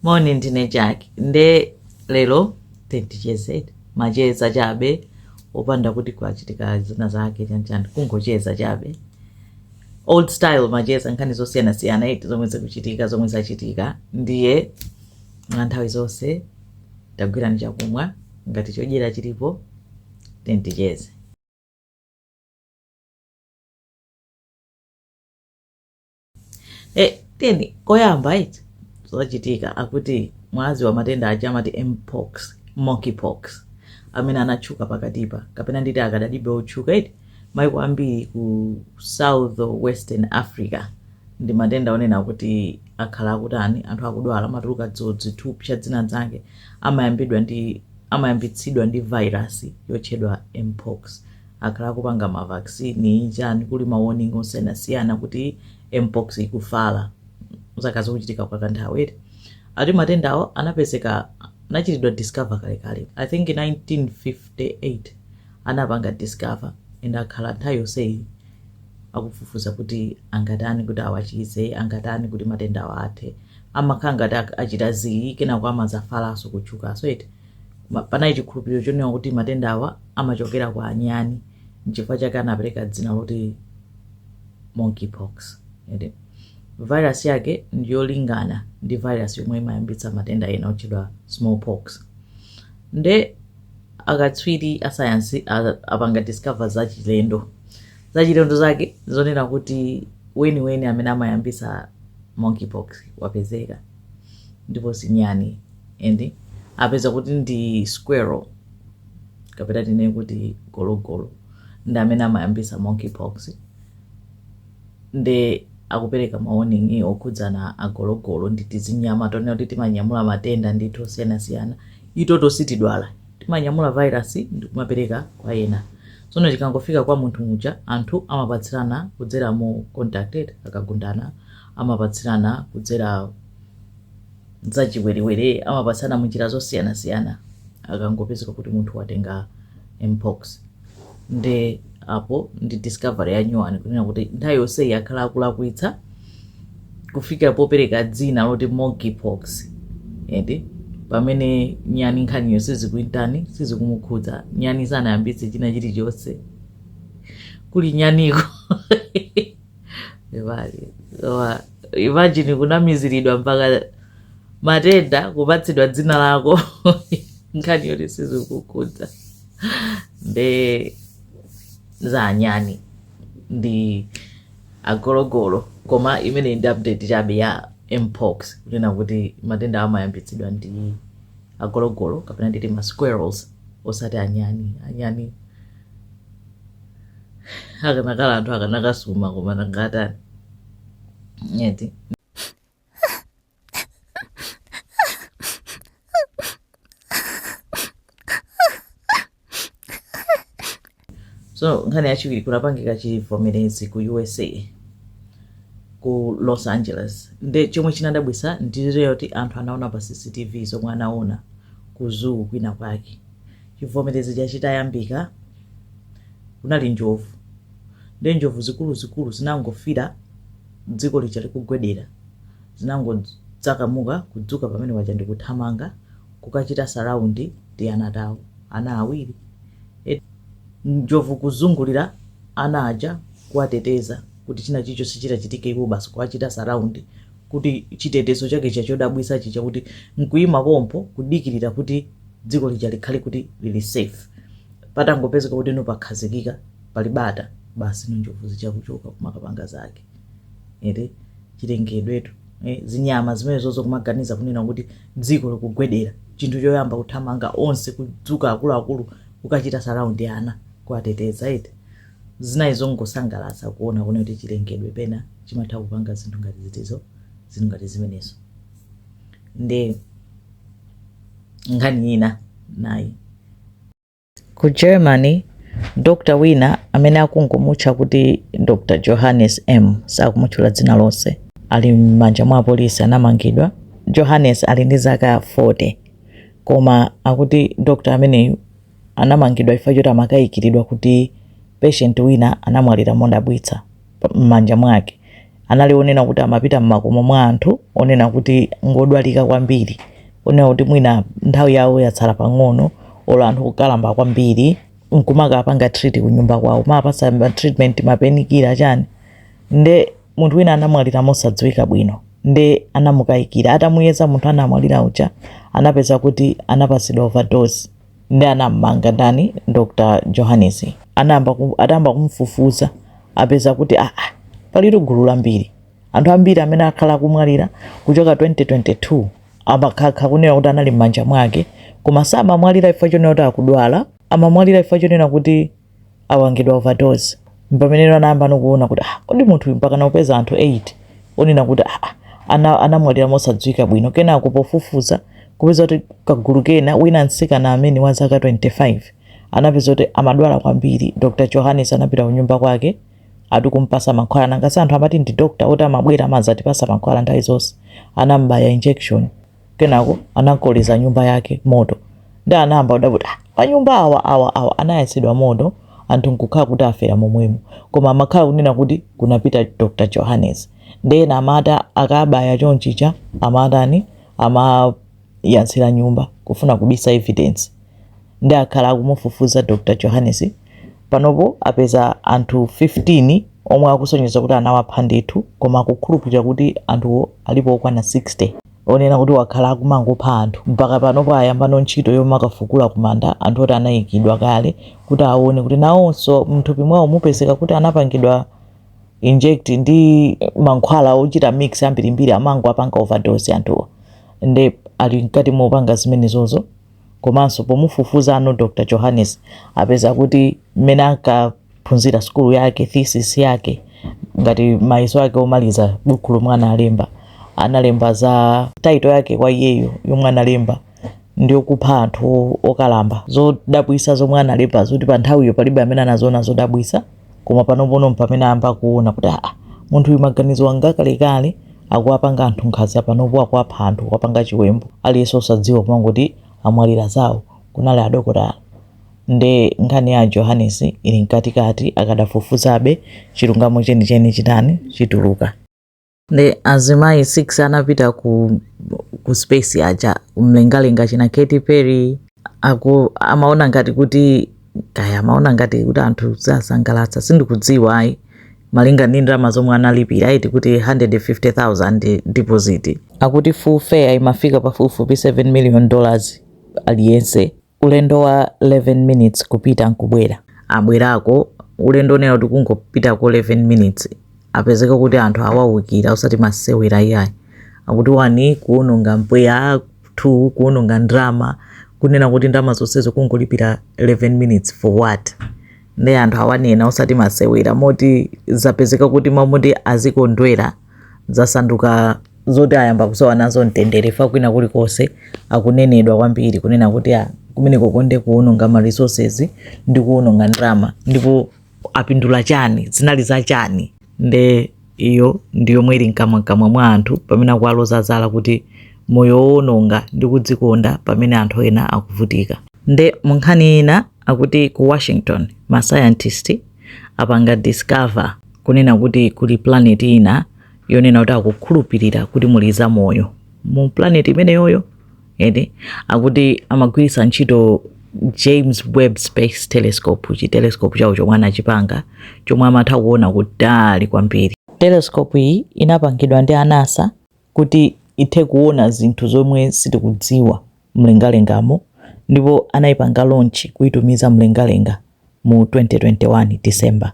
moni ndine Jack nde lero tendichezere macheza chabe opanda kuti kwachitika zina zake chanchani kungocheza chabe old style macheza nkhani zosiyanasiyana eti zomwe zikuchitika zomwe zachitika ndiye mwa nthawi zonse tagwirani chakumwa ngati chodyera chilipo tendicheze Eh, tiyeni koyamba eti zochitika akuti mwazi wa matenda aja amati mpox monkeypox amene anatchuka pakatipa kapena nditi akadalibe otchuka eti maiko ambiri ku south western africa ndi matenda onena kuti akhala akutani anthu akudwala amatuluka dzidzithupsa dzina dzake amayambidwa ndi amayambitsidwa ndi virus yotchedwa mpox akhala akupanga ma vaccine chani kuli ma warning osiyanasiyana kuti mpox ikufala zaka zikuchitika kwa kanthawi eti ati matendawo anapezeka anachitidwa discover kalekale i think 1958 anapanga discover and akhala nthawi yonseyi akufufuza kuti angatani kuti awachize angatani kuti matenda awo athe amakhala ngati ak- achita zii kenako amazafalaso kutchukaso eti Ma- panali chikhulupiriro chonena kuti matenda awa amachokera kwa anyani nchifukwa chake anapereka dzina loti monkeypox eti virus yake ndiyolingana ndi virus yomwe imayambitsa matenda ena otchedwa smallpox nde akatswiri asayansi a- apanga discover zachilendo zachilendo zake zonena kuti weniweni amene amayambitsa monkeypox wapezeka ndipo sinyani and apeza kuti ndi squirrel kapena tinene kuti gologolo ndi amene amayambisa monkeypox nde akupereka mawarning okhudzana agologolo ndi tizinyama tonena kuti timanyamula matenda ndithu osiyanasiyana itoto sitidwala timanyamula virus ndikumapereka kwa ena tsono chikangofika kwa munthu muja anthu amapatsirana kudzera mu contacted akagundana amapatsirana kudzera mzachiwerewere amapatsana munjira zosiyanasiyana akangopezeka kuti munthu watenga mpox nde apo ndi discovery ya nyuwani kunena kuti nthawi yonseyi akhala akulakwitsa kufikira popereka dzina loti monkeypox eti pamene nyani nkhaniyo sizikumutani sizikumukhudza nyani sanayambitse china chilichonse kuli nyaniko Imagine. Koma imagine kunamiziridwa mpaka matenda kupatsidwa dzina lako nkhani yoti sizikukukhudza nde za anyani ndi agologolo koma imeneyi ndi update chabe ya mpox kunena kuti matenda amayambitsidwa ndi agologolo kapena nditi ma squirrels osati anyani anyani akanakala anthu akanakasuma koma nangatani eti so nkhani yachiwiri kunapangika chivomerezi ku usa ku los angeles nde chomwe chinadabwisa ndi chakuti anthu anaona pa cctv zomwe anaona ku zoo kwina kwake Chivomerezi chija chitayambika, kunali njovu ndiye njovu zikuluzikulu zinangofira dziko lija likugwedera, zinangodzakamuka kudzuka pamene paja ndi kuthamanga kukachita surround tiana tawo, ana awiri e, njovu kuzungulira ana aja kuwateteza kuti china chilichonse chitachitike iwo basi kuwachita surround. kuti chitetezo chake chija chodabwitsa chija kuti nkuima pompo kudikirira kuti dziko lija likhale kuti lili safe patangopezeka kuti no pakhazikika pali bata basi no njovu zija kuchoka kumakapanga zake ee chilengedwetu eh, zinyama zimenezozo kumaganiza kunena kuti dziko likugwedera chinthu choyamba kuthamanga onse kudzuka akuluakulu kukachita surround ana kuwateteza eti Zinali zongosangalatsa kuona kuona kuti chilengedwe pena chimatha kupanga zinthu ngati zitizo zinthu ngati zimenezo nde nkhani ina nayi ku germany dr wina amene akungomutcha kuti dr johannes m sakumutchula dzina lonse ali m'manja mwa apolisi anamangidwa johannes ali ndi zaka 40 koma akuti dr ameneyu anamangidwa chifukwa choti amakaikiridwa kuti patient wina anamwalira modabwitsa mmanja mwake. Anali onena kuti amapita mmakomo mwa anthu onena kuti ngodwalika kwambiri, onena kuti mwina nthawi yawo yatsala pang'ono or anthu okalamba kwambiri nkumakapanga treat kunyumba kwawo, kumawapatsa ma treatment, ma painkiller chani nde. munthu wina anamwalira mosadziwika bwino nde anamukayikira atamuyeza munthu anamwalira uja anapeza kuti anapatsidwa overdose nde anammanga ndani dr johannes anayamba ku- atayamba kumfufuza apeza kuti aa palitu gulu lambiri anthu ambiri amene akhala akumwalira kuchoka 2022 amakhala kunena kuti anali m'manja mwake koma samamwalira chifukwa chonena kuti akudwala amamwalira chifukwa chonena kuti awangidwa overdose mpamenero anayambano kuona kuti ah, kodi munthu mpakana upeza anthu 8 onena kuti ah, ah, ana- anamwalira mosadziwika bwino kenako pofufuza kupeza kuti kagulu kena wina mtsikana amene wa zaka 25 anapeza kuti amadwala kwambiri dr johannes anapita kunyumba kwake ati kumpasa mankhwala nangasi anthu amati ndi dr oti amabwera amazatipasa mankhwala nthawi zonse anambaya injection kenako anakoleza nyumba yake moto nde anayamba kudabwa kuti "Ah, manyumba awa awa awa anayatsidwa moto anthu nkukhala kuti afera momwemo koma amakhala kunena kuti kunapita dr johannes nde ena amati akabaya chonchicha amatani amayatsira nyumba kufuna kubisa evidence nde akhala akumufufuza dr johannes Panopo apeza anthu 15 omwe akusonyeza kuti anawapha ndithu koma akukhulupirira kuti anthuwo alipo okwana 60. Onena kuti wakhala akumangopha anthu mpaka panopo ayambano ntchito yomakafukula kumanda anthu oti anaikidwa kale kuti awone kuti nawonso mnthupi mwawo mupezeka kuti anapangidwa inject ndi mankhwala ochita mix ambirimbiri amangowapanga overdose anthuwo nde ali mkati mopanga zimenezozo. komanso pomufufuzano Dr Johannes apeza kuti mmene ankaphunzira sukulu yake thesis yake ngati mayeso ake omaliza buku lomwe analemba analemba za title yake kwa iyeyo yomwe analemba ndi yokupha anthu okalamba zodabwisa zomwe analemba zoti pa nthawiyo palibe amene anaziona zodabwisa koma panopono mpamene ayamba kuona kuti aa munthu uyu maganizo awa nga kalekale akuwapanga anthu nkhanza panopo akuwapha anthu kuwapanga chiwembu aliyense osadziwa kumangoti amwalira zawo kunali adokotala nde nkhani ya johannes ili mkatikati akadafufuzabe chilungamo chenicheni chitani chituluka nde azimayi 6 anapita ku, ku space aja mlengalenga china Katy Perry amaona ngati kuti kaya amaona ngati kuti anthu ziwasangalatsa sindikudziwa ayi malinga ndi ndalama zomwe analipira eti akuti 150,000 deposit akuti full fare imafika pafupifupi 7 million dollars aliyense ulendo wa 11 minutes kupita nkubwera abwerako ulendo onena kuti kungopitako 11 minutes apezeka kuti anthu awawukira osati masewera iyayi akuti one kuononga mpweya two kuononga ndrama kunena kuti ndrama zonsezo kungolipira 11 minutes for what nde anthu awanena osati masewera moti zapezeka kuti mmaloti azikondwera zasanduka zoti ayamba kusowa nazo mtendere fa kwina kulikonse akunenedwa kwambiri kunena kuti a kumeneko kukonda kuwononga ma resources ndi kuwononga ndalama ndipo apindula chani zinali za chani nde iyo ndi yomwe ili mkamwamkamwa mwa anthu pamene akuwaloza zala kuti moyo wowononga ndi kudzikonda pamene anthu ena akuvutika nde munkhani ina akuti ku washington ma scientist apanga discover kunena kuti kuli planet ina yonena kuti akukhulupirira kuti muli zamoyo mu planet imeneyoyo eti akuti amagwiritsa ntchito james webb space telescope chi telescope chawo chomwe anachipanga chomwe amatha kuona kutali kwambiri telescope iyi inapangidwa ndi anasa kuti ithe kuona zinthu zomwe sitikudziwa mlengalengamo ndipo anaipanga launch kuitumiza mlengalenga mu 2021 December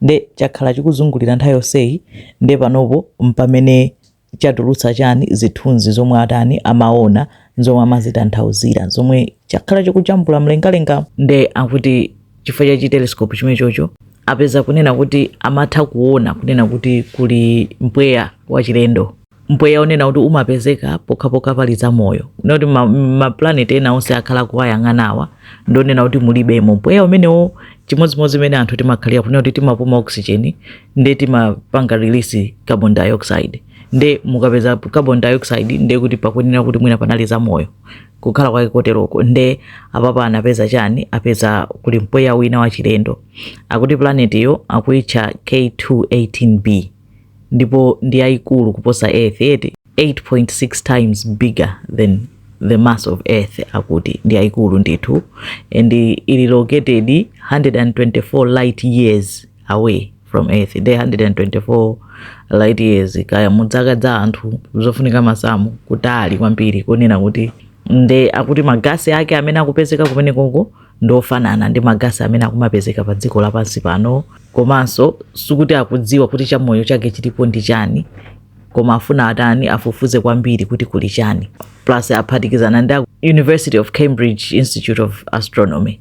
nde chakhala chikuzungulira nthawi yonseyi nde panopo mpamene chatulutsa chani zithunzi zomwe atani amaona zomwe amazitanthauzira zomwe chakhala chikujambula mlengalenga nde akuti chifukwa cha chitelescope chimenechocho apeza kunena kuti amatha kuona kunena kuti kuli mpweya wachilendo mpweya onena kuti umapezeka pokhapokha pali zamoyo noti ma, ma planet ena onse akhala akuwayang'anawa ndonena kuti mulibemo mpweya umenewo chimodzimodzi mmene anthu timakhalira kunena kuti timapuma oxygen nde timapanga release carbon dioxide nde mukapeza carbon dioxide nde kuti pakuyenera kuti mwina panali zamoyo kukhala kwake koteroko nde apapa anapeza chani apeza kuli mpweya wina wachilendo akuti planetiyo akuitcha k218b ndipo ndi yaikulu kuposa earth eti 8.6 times bigger than the mass of earth akuti ndi yaikulu ndithu and ili located 124 light years away from earth nde 124 light years kaya muziika za anthu zofunika masamu kutali kwambiri kunena kuti nde akuti magasi ake amene akupezeka kumenekoko ndi ofanana ndi magasi amene akumapezeka pa dziko lapansi pano komanso sikuti akudziwa kuti chamoyo chake chilipo ndi chani koma afuna atani afufuze kwambiri kuti kuli chani plus aphatikizana ndi a university of cambridge institute of astronomy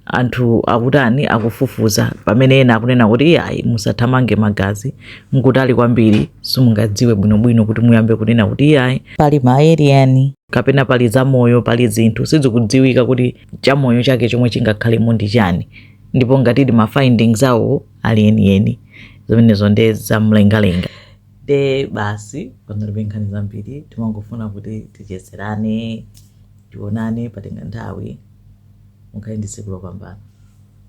anthu akutani akufufuza pamene ena akunena kuti iyayi musathamange magazi mkutali kwambiri simungadziwe bwinobwino kuti muyambe kunena kuti iyayi pali ma alien kapena pali zamoyo pali zinthu sizikudziwika kuti chamoyo chake chomwe chingakhalemo ndi chani ndipo ngatidi ma findings awo ali enieni zimenezo nde zamlengalenga nde basi panalibe nkhani zambiri timangofuna kuti tichezerane tionane patenga nthawi mukhale ndi tsiku lopambana